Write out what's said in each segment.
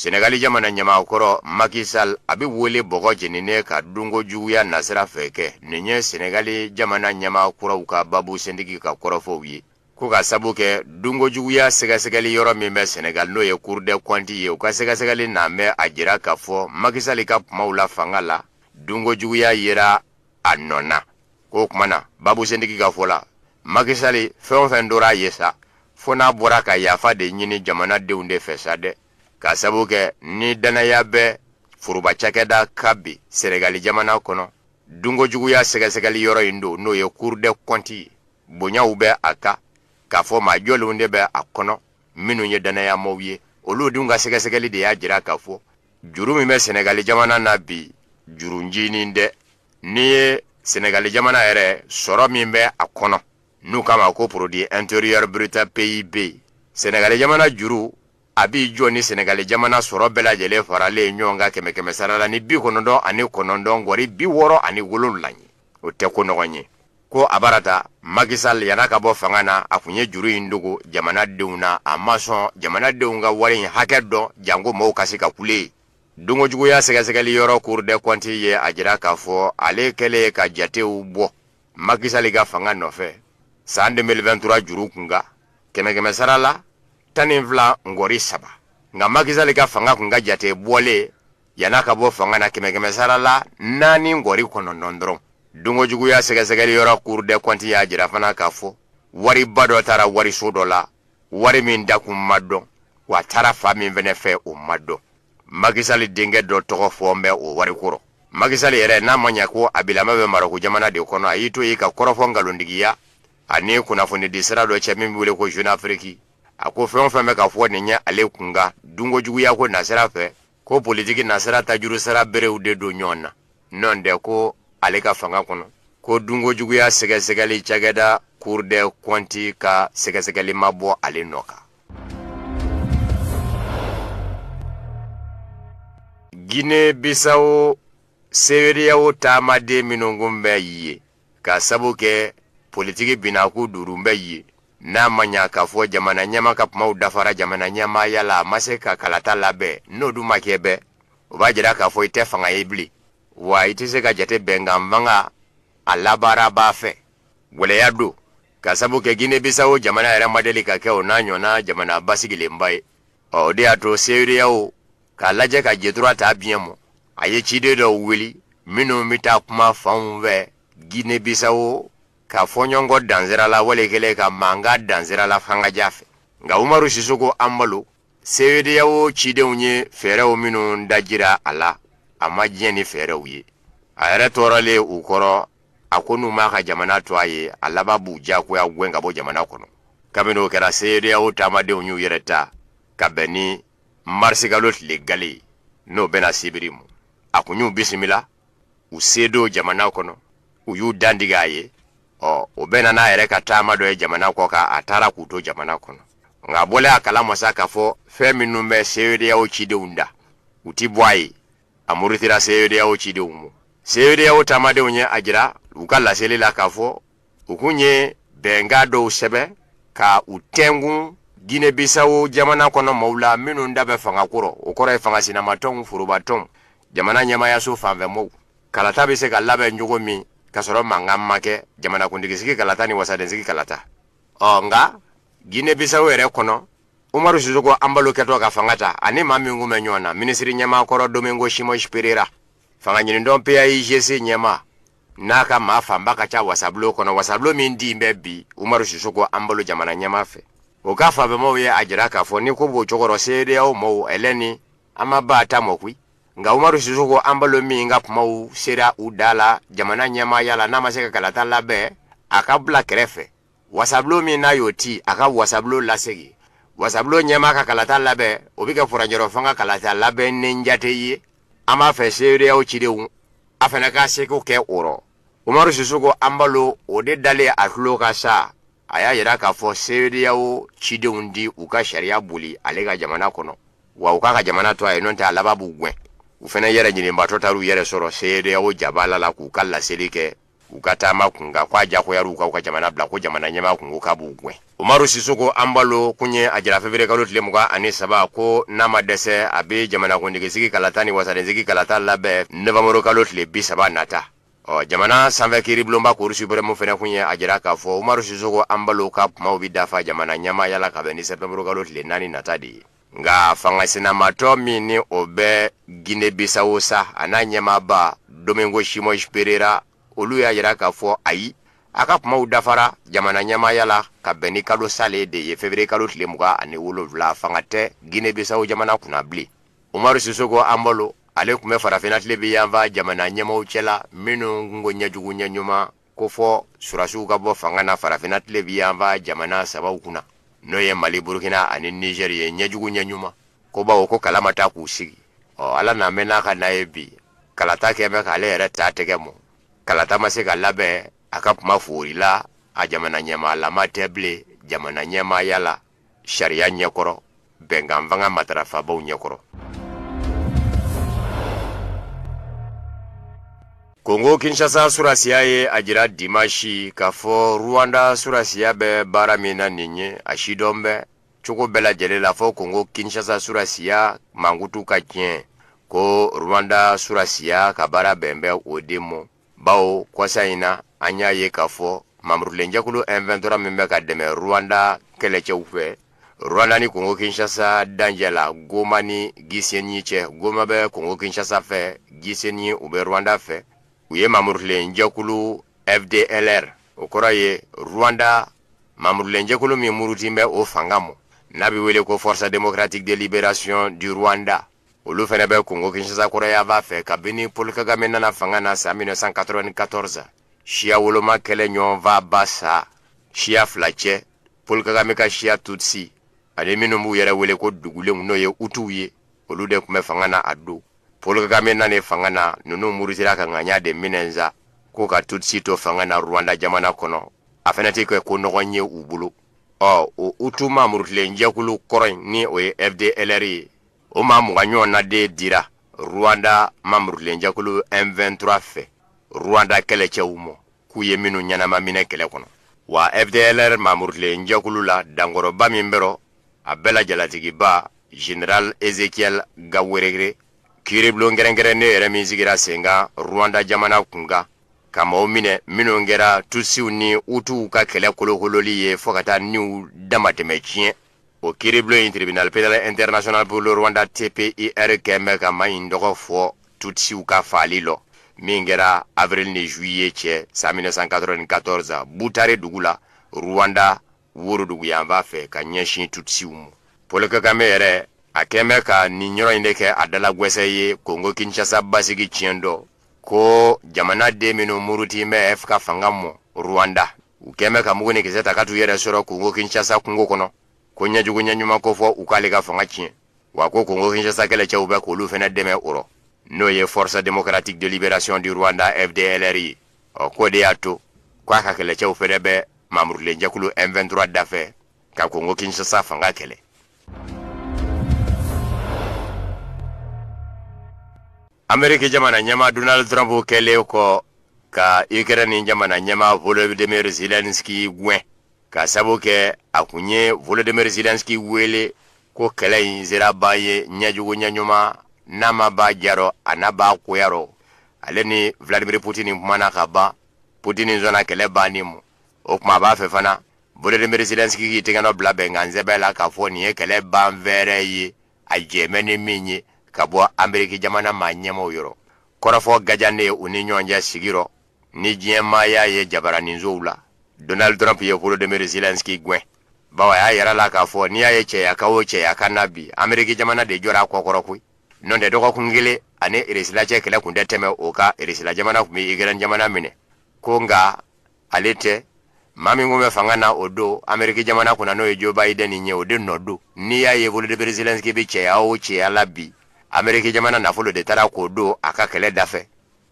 sɛnɛgali jamana ɲɛmaa kɔrɔ makisal a bɛ wele bɔgɔ jeninen kan dunko juguya nasira fɛ kɛ nin ye sɛnɛgali jamana ɲɛmaa kuraw ka babu sentigi ka kɔrɔfɔw ye ko ka sabu kɛ dunko juguya sɛgɛsɛgɛli yɔrɔ min bɛ sɛnɛgali n'o ye cour des comptes ye u ka sɛgɛsɛgɛli na bɛ a jira k'a fɔ makisali ka kumaw la fanga la dunko juguya yera a nɔ na k'o kuma na babusentigi ka fɔ la makisali fɛn o fɛn dora a ye sa fo n'a bɔra ka yafa de ɲini jamanadenw de fɛ sa dɛ ka sabu kɛ ni dannaya bɛ foroba cakɛda kan bi senegali jamana kɔnɔ dunkojuguya sɛgɛsɛgɛli yɔrɔ in don n'o ye cour des comptes ye bonyaw bɛ a kan k'a fɔ maa jɔlenw de bɛ a kɔnɔ minnu ye dannayamaw ye olu dun ka sɛgɛsɛgɛli de y'a jira k'a fɔ juru min bɛ sɛnɛgali jamana na bi juru ncinin tɛ n'i ye sɛnɛgali jamana yɛrɛ sɔrɔ min bɛ a kɔnɔ n'u k'a ma ko produit intérieur brut pib sɛnɛgali jamana juru a b'i jɔ ni sɛnɛgali jamana sɔrɔ bɛɛ lajɛlen faralen ɲɔgɔn kan kɛmɛ kɛmɛ sara la ni bi kɔnɔntɔn ani kɔnɔntɔn ngɔri bi wɔɔrɔ ani wolonwula ye o tɛ ko ɲɔgɔn ye ko a barata makisal yan'a ka bɔ fanga na a kun ye juru in dogo jamanadenw na a ma sɔn jamanadenw ka wari in hakɛ dɔn janko mɔgɔw ka se ka kule ye dunkojuguya sɛgɛsɛgɛli yɔrɔ cour des comptes ye a jira k'a fɔ ale kɛlen ka jatew bɔ makisali ka fanga nɔfɛ san 2023 juru kunkan kɛmɛ kɛmɛ sara la tan ni fila ngɔri saba nka makisali ka fanga kun ka jate bɔlen Yan'a ka bɔ fanga na kɛmɛkɛmɛsara la naani ŋɔri kɔnɔntɔn dɔrɔn dunko juguya sɛgɛsɛgɛli yɔrɔ cour des comptes y'a jira fana k'a fɔ wariba dɔ taara wariso dɔ la wari min dakun ma dɔn w'a taara fan min fɛnɛ fɛ o ma dɔn makisali denkɛ dɔ tɔgɔ fɔɔn bɛ o wari ko rɔ makisali yɛrɛ n'a ma ɲa ko a bilama bɛ maroko jamana de kɔnɔ a y'i to yen ka kɔrɔfɔ nkalontigiya a ni kunnafonidi sira dɔ cɛ min bɛ wele ko jeune afrique a ko fɛn o fɛn bɛ ka fɔ nin ɲɛ ale kunkan dunko juguya ko nasira fɛ ko politigi nasira tajurusara berew de don ɲɔgɔn na nɔntɛ ko ale ka fanga kɔnɔ ko dunko juguya sɛgɛsɛgɛli cakɛda cour des comptes ka sɛgɛsɛgɛli ma bɔ ale nɔ kan gine bisawo sedeyawo taamaden minnu kun bɛ yen Ka sabu kɛ politigi binakun duuru bɛ yen n'a ma ɲɛ k'a fɔ jamana ɲɛmaa ka kumaw dafara jamana ɲɛmaa yala a ma se ka kalata labɛn n'o dun ma kɛ bɛɛ o b'a jira k'a fɔ i tɛ fanga ye bilen wa i tɛ se ka jate bɛnkanfanga a labaarabaa fɛ gɛlɛya don ka sabu kɛ gine bisawo jamana yɛrɛ ma deli ka kɛ o n'a ɲɔgɔnna jamana basigilenba ye ɔ o de y'a to seedeyawo k'a lajɛ ka jetura ta biɲɛ mɔ a ye ciden dɔw wuli minnu bɛ taa kuma fanw fɛ gine bisawo ka fɔɲɔgɔnkɔ dan sira la wale kɛlen ka mankan dan sira la fangaja fɛ nka umaru sisoko anbalo seedeyawo cidenw ye fɛɛrɛw minnu dajira a la a ma diɲɛ ni fɛɛrɛw ye a yɛrɛ tɔɔrɔlen u kɔrɔ a ko n'u m'a ka jamana to a ye a laban b'u diyagoya gɛn ka bɔ jamana kɔnɔ kabini o kɛra seedeyawo taamadenw y'u yɛrɛ ta ka bɛn ni marisikalo tile gale n'o bɛnna sibiri mɔ a kun y'u bisimila u se don jamana kɔnɔ u y'u dantigɛ a ye ɔ o bɛnna n'a yɛrɛ ka taama dɔ ye jamana kɔkan a taara k'u to jamana kɔnɔ nka a bɔlen a kala ma sa k'a fɔ fɛn minnu bɛ seedeyawo cidenw da u ti bɔ a ye a murutira seedeyawo cidenw ma seedeyawo taamadenw ye a jira u ka laseli la k'a fɔ u kun ye bɛnkan dɔw sɛbɛn ka u tɛnkun Guinée Bissau jamana kɔnɔ maaw la minnu da bɛ fanga ko rɔ o kɔrɔ ye fanga sinamatɔnw forobatɔnw jamana ɲɛmaayaso fanfɛ mɔgɔw kalata bɛ se ka labɛn cogo min ka sɔrɔ mankan ma kɛ jamanakuntigisigi kalata ni wasadensigi kalata ɔ nka Guinée Bissau yɛrɛ kɔnɔ umaru sisoko anbalo kɛtɔ ka fanga ta a ni maa min kun bɛ ɲɔgɔn na minisiri ɲɛmaa kɔrɔ domingo simɔsi perera fangaɲinintɔn paigc ɲɛmaa n'a ka maa fanba ka ca wasabulo kɔnɔ wasabulo min tilen bɛ bi umaru sisoko anbalo jamana ɲɛmaa fɛ o ka fanfɛmaaw ye a jira k'a fɔ ni ko b'o cogo rɔ seedeyawo maaw hali ni an ma ban a ta mɔ koyi nka umaru sisoko anbalo min ka kumaw sera u dan la jamana ɲɛmaaya la n'a ma se ka kalata labɛn a ka bila kɛrɛfɛ wasabulo min n'a y'o ci a ka wasabulo lasegin wasabulo ɲɛmaa ka kalata labɛn o bɛ kɛ furancɛrɔ fanga ka kalata labɛnnen jate ye an b'a fɛ seedeyawo cidenw a fana ka seko kɛ o rɔ umaru sisoko anbalo o de dalen a tulo kan sa a y'a jira k'a fɔ seedeyawo cidenw ti u ka sariya boli ale ka jamana kɔnɔ wa u k'a ka jamana to a ye n'o tɛ a laban b'u gɛn u fana yɛrɛɲininbaatɔ taara u yɛrɛ sɔrɔ seedeyawo jaba la la k'u ka laseli kɛ u ka taama kun kan ko a jakoyara u kan u ka jamana bila ko jamana ɲɛmaa kun ko k'a b'u gɛn umaru sisoko anbalo kun ye a jira fevrier kalo tile mugan ani saba ko n'a ma dɛsɛ a bɛ jamanakuntigisigi kalata ni wasadensigi kalata labɛn novanburu kalo tile bi saba nata ɔ jamana sanfɛ kiiribulonba kuru supirɛmu fɛnɛ kun ye a jira k'a fɔ umaru sisoko anbalo ka kumaw bi dafa jamana ɲɛmaaya la ka bɛn ni sɛptɛnburu kalo tile naani nata de ye nka fangasinamatɔn min ni o bɛ gine bisawo sa a n'a ɲɛmaaba domingo simɔs perera olu y'a jira k'a fɔ ayi a ka kumaw dafara jamana ɲɛmaaya la ka bɛn ni kalo salen de ye fevrier kalo tile mugan ani wolonfila fanga tɛ gine bisawo jamana kunna bilen umaru sisoko anbalo ale kun bɛ farafinna tilebin yanfan jamana ɲɛmaw cɛla minnu kun ko ɲɛjugu ɲɛɲuman ko fɔ surasiw ka bɔ fanga na farafinna tilebi yanfan jamana sabaw kunna n'o ye mali burukina ani nizeri ye ɲɛjugu ɲɛɲuman ko bawo ko kala ma ta k'u sigi ɔ ala n'a mɛn n'a ka n'a ye bi kalata kɛnbɛ k'ale yɛrɛ ta tɛgɛ mɔ kalata ma se ka labɛn a ka tuma foorila a jamana ɲɛmaalama tɛ bilen jamana ɲɛmaaya la sariya ɲɛkɔrɔ bɛnkan fanga matarafabaw ɲɛkɔrɔ kongo kinshasa surasiya ye a jira dimasi k'a fɔ ruwanda surasiya bɛ baara min na nin ye a sidɔn bɛ cogo bɛɛ lajɛlen la fɔ kongo kinshasa surasiya mankutu ka tiɲɛ ko ruwanda surasiya ka baara bɛn bɛ o de mɔ bawo kɔsa in na an y'a ye k'a fɔ mamurutilenjɛkulu M23 min bɛ ka dɛmɛ Rwanda kɛlɛcɛw fɛ Rwanda ni Congo Kinshasa danjɛ la Goma ni Gisenyi cɛ Goma bɛ Congo Kinshasa fɛ Gisenyi u bɛ Rwanda fɛ u ye mamurutilenjɛkulu FDLR o kɔrɔ ye Rwanda mamurutilenjɛkulu min murutin bɛ o fanga mɔ n'a bɛ wele ko Force démocratique de libération du Rwanda olu fɛnɛ bɛ kongo kinshasa kɔrɔyanfan fɛ kabini paul kagame nana fanga na san 1994 siyawoloma kɛlɛ ɲɔgɔnfaaba sa siya fila cɛ paul kagame ka siya tutsi ani minnu b'u yɛrɛ wele ko dugulenw n'o ye utuw ye olu de tun bɛ fanga na a don paul kagame nane fanga na nunu murutira ka ŋaniya de minɛ sa ko ka tutsi to fanga na rwanda jamana kɔnɔ a fɛnɛ tɛ kɛ ko nɔgɔn ye u bolo ɔ o utu mamurutilen jɛkulu kɔrɔ in ni o ye fdlr ye o maa mugan ɲɔgɔn na de dira Rwanda mamurutilenjɛkulu M23 fɛ Rwanda kɛlɛcɛw mɔ k'u ye minnu ɲɛnama minɛ kɛlɛ kɔnɔ wa FDLR mamurutilenjɛkulu la dankɔrɔba min b'a rɔ a bɛɛ la jalatigiba General Ezekiel Gakwerere kiiribulon kɛrɛnkɛrɛnnen yɛrɛ min sigira sen kan Rwanda jamana kunkan ka maaw minɛ minnu kɛra Tutsiw ni Hutuw ka kɛlɛ kolokololi ye fɔ ka taa niw damatɛmɛ tiɲɛ o kiiribulon in tribunal pénal international pour le rwanda tpir kɛnbɛ ka maa in tɔgɔ fɔ tutsiw ka faali lɔ min kɛra avril ni juillet cɛ san 1994 butare dugu la rwanda worodugu yanfan fɛ ka ɲɛsin tutsiw mɔ paul kagame yɛrɛ a kɛnbɛ ka nin yɔrɔ in de kɛ a dalagwɛsɛ ye kongo kinshasa basigi tiɲɛ dɔ ko jamanaden minnu muruti bɛ f ka fanga mɔ rwanda u kɛnbɛ ka mugu ni kisɛ ta ka t'u yɛrɛ sɔrɔ Kongo Kinshasa kungo kɔnɔ ko ɲɛjugu ɲɛɲuman ko fɔ u k'ale ka fanga tiɲɛ wa ko Kongo Kinshasa kɛlɛcɛw bɛ k'olu fɛnɛ dɛmɛ o rɔ n'o ye Force Démocratique de Libération du Rwanda FDLR ye ɔ k'o de y'a to k'a ka kɛlɛcɛw fɛnɛ bɛ mamurutilen jɛkulu M23 dafɛ ka Kongo Kinshasa fanga kɛlɛ Ameriki jamana ɲɛmaa Donald Trump kɛlen kɔ ka Ukraine jamana ɲɛmaa Volodymyr Zelensky gɛn ka sabu kɛ a tun ye Volodymyr Zelensky wele ko kɛlɛ in sera ban ye ɲɛjugu ɲɛ ɲuman n'a ma ban diya rɔ a na ban goya rɔ ale ni Vladimir Putin kumana ka ban Putin sɔnna kɛlɛ banni ma o tuma a b'a fɛ fana Volodymyr Zelensky k'i tɛgɛnɔ bila bɛnkansɛbɛn la k'a fɔ nin ye kɛlɛ ban fɛɛrɛ ye a jɛmɛ ni min ye ka bɔ ameriki jamana maa ɲɛmaw yɔrɔ kɔrɔfɔ gajannen ye u ni ɲɔgɔn cɛ sigi rɔ ni diɲɛ maa y'a ye jabaraninsow la donald trump ye volodymyr zelensky gɛn bawo a y'a yira a la k'a fɔ n'i y'a ye cɛyakan o cɛyakan na bi ameriki jamana de jɔra a kɔkɔrɔ koyi nɔntɛ dɔgɔkun kelen ani irisila cɛ kɛlɛ tun tɛ tɛmɛ o kan irisila jamana tun bɛ ikɛrɛn jamana minɛ ko nka ale tɛ maa min tun bɛ fanga na o don ameriki jamana kunna n'o ye Joe Biden ye o de nɔ don n'i y'a ye Volodymyr Zelensky bɛ cɛya o cɛya la bi ameriki jamana nafolo de taara k'o don a ka kɛlɛ dafɛ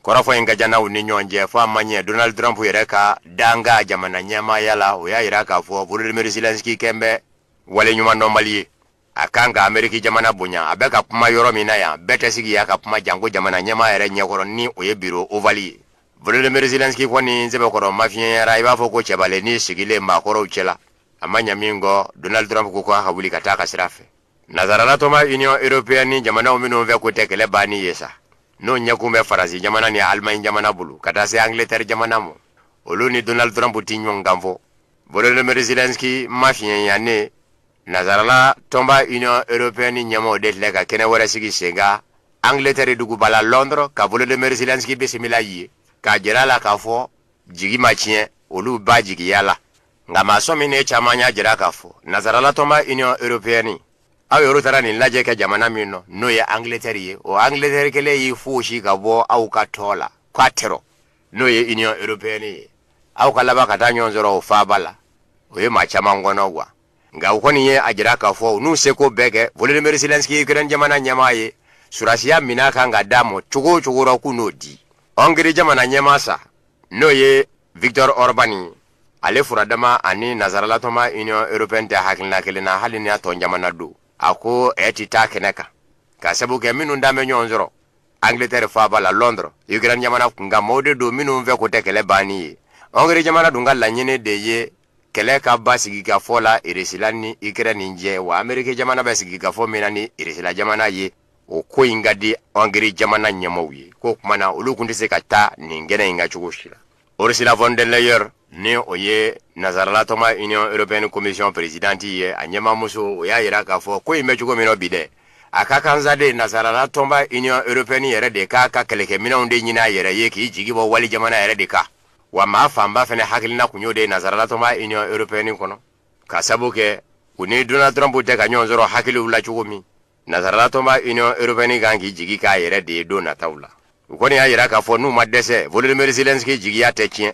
kɔrɔfɔ in ka jan u ni ɲɔgɔn cɛ fɔ a ma ɲɛ Donald Trump yɛrɛ ka dankan jamana ɲɛmaaya la o y'a jira k'a fɔ Volodymyr Zelensky kɛlen bɛ waleɲumandɔnbali ye a kan ka ameriki jamana bonya a bɛ ka kuma yɔrɔ min na yan bɛɛ tɛ sigi yan ka kuma janko jamana ɲɛma yɛrɛ ɲɛkɔrɔ ni o ye biro ovali ye volodymyr zelenski kɔni sɛbɛkɔrɔ mafiɲɛyara i b'a fɔ ko cɛbalen ni sigilen maakɔrɔw cɛla a ma ɲɛ minkɛ donald trump ko ko a ka wuli ka taa a ka sira fɛ nazarala tɔnba union européenne jamanaw minnu fɛko tɛ kɛlɛ banni ye sa n'o ɲɛkun bɛ faransi jamana ni alemaɲi jamana bolo ka taa se angleterre jamana ma olu ni donald trump tɛ ɲɔgɔn kan fɔ volodymyr zelenski mafiɲɛyannen Nazarala tɔnba Union Européenne ɲɛmaaw de filɛ ka kɛnɛ wɛrɛ sigi sen kan Angleterre duguba la Londres ka Volodymyr Zelensky bisimila yen k'a jira a la k'a fɔ jigi ma tiɲɛ olu b'a jigiya la nka maa sɔminen caman y'a jira k'a fɔ nazarala tɔnba Union Européenne aw yɛrɛ taara nin lajɛ kɛ jamana min na n'o ye Angleterre ye o Angleterre kelen y'i foosi ka bɔ aw ka tɔn la k'a tɛ n'o ye Union Européenne ye aw ka laban ka taa ɲɔgɔn sɔrɔ o faaba la o ye maa caman kɔnɔgwan nka u kɔni ye a jira k'a fɔ u n'u seko bɛɛ kɛ volodymyr zelensky ukraine jamana ɲɛmaa ye surasiya min'a kan ka d'a ma cogo o cogo rɔ k'u n'o di hongiri jamana ɲɛmaa sa n'o ye viktor orban ye ale furadama ani nazarala tɔnba union européenne tɛ hakilina kelen na hali ni a tɔn jamana don a ko ɛ ti taa kɛnɛ kan ka sabu kɛ minnu dan bɛ ɲɔgɔn sɔrɔ angleterre faaba la londres ukraine jamana kunkan mɔgɔw de don minnu fɛko tɛ kɛlɛ banni ye hongiri jamana dun ka laɲini de ye kɛlɛ ka ban sigi ka fɔ la Irisila ni Ikɛrɛni cɛ wa Ameriki jamana bɛ sigi ka fɔ min na ni Irisila jamana ye o ko in ka di Hongrie jamana ɲɛmaaw ye ko kuma na olu kun tɛ se ka taa nin kɛnɛ in ka cogo si la Ursula von der Leyen ni o ye nazaralatɔnba Union Européenne Commission Présidente ye a ɲɛmaamuso o y'a jira k'a fɔ ko in bɛ cogo min na bi dɛ a ka kan sa de nazaralatɔnba Union Européenne yɛrɛ de k'a ka kɛlɛkɛminɛnw de ɲini a yɛrɛ ye k'i jigi bɔ wali jamana yɛrɛ de kan wa maa fanba fɛnɛ hakilina kun y'o de ye nanzaralatɔnba Union européenne kɔnɔ ka sabu kɛ u ni Donald Trump tɛ ka ɲɔgɔn sɔrɔ hakiliw la cogo min nanzaralatɔnba Union européenne kan k'i jigi k'a yɛrɛ de ye don nataw la u kɔni y'a jira k'a fɔ n'u ma dɛsɛ Volodymyr Zelensky jigiya tɛ tiɲɛ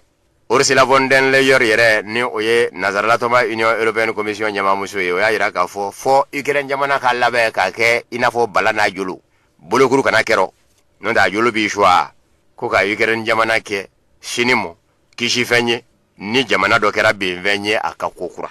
Ursula von der Leyen yɛrɛ ni o ye nanzaralatɔnba Union européenne commission ɲɛmaamuso ye o y'a jira k'a fɔ fɔ Ukraine jamana ka labɛn k'a kɛ i n'a fɔ bala n'a jolo bolokuru kana kɛ rɔ n'o tɛ a jolo b'i suwa ko ka Ukraine jamana kɛ sini mɔ kisifɛn ye ni jamana dɔ kɛra benfɛn ye a kan kokura